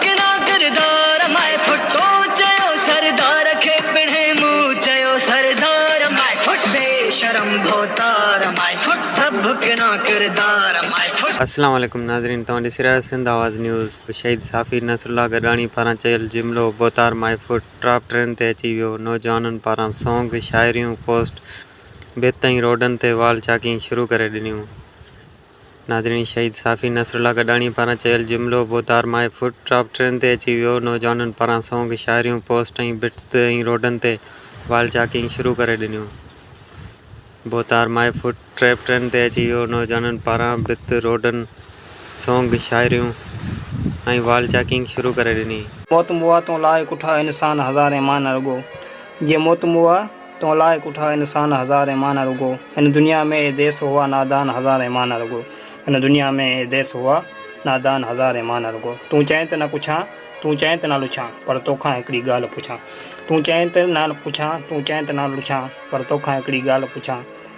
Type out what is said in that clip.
ڪنا ڪردار ماء ڦٽو چيو سردار کي پڻهين مون چيو سردار ماء ڦٽ بي شرم ڀوتار ماء ڦٽ سڀ ڪنا ڪردار ماء ڦٽ. السلام عليڪم ناظرين توهان ڏسي رهيا آهيو سنڌ آواز نيوز شهيد صحافي نصرالله گڏاڻي پاران چيل جملو ڀوتار مائي فوٽ ٽاپ ٽرين تي اچي ويو نوجوانن پاران سونگ شاعريون پوسٽ بيت ۽ روڊن تي وال چاڪين شروع ڪري ڏنيون ناظرين شهيد صحافي نصر الله گڏاڻي پاران چيل جملو بو تار ماهي فوٽ ٽاپ ٽرين تي اچي ويو نوجوانن پاران سونگ شاعريون پوسٽ ۽ بٽ ۽ روڊن تي وال چاڪنگ شروع ڪري ڏنيون بو تار ماهي فوٽ ٽريپ ٽرين تي اچي ويو نوجوانن پاران بت روڊن سونگ شاعريون ۽ وال چاڪنگ شروع ڪري ڏني. موت موا تون لاء ڪٺا انسان هزارين مان نه رڳو جي موت موا. تون لاء ڪوٺا انسان هزار ايمان رڳو هن دنيا ۾ اي ديس هئا نادان هزار ايمان رڳو هن دنيا ۾ اي ديس هئا نادان هزار ايمان رڳو تون چئين ته نه ڪڇان تون چئين ته نه لڇان پر توکان هڪڙي ڳالهه پڇان تون چئين ته نه ڪڇان تون چئين ته نه لڇان پر توکان هڪڙي ڳالهه پڇان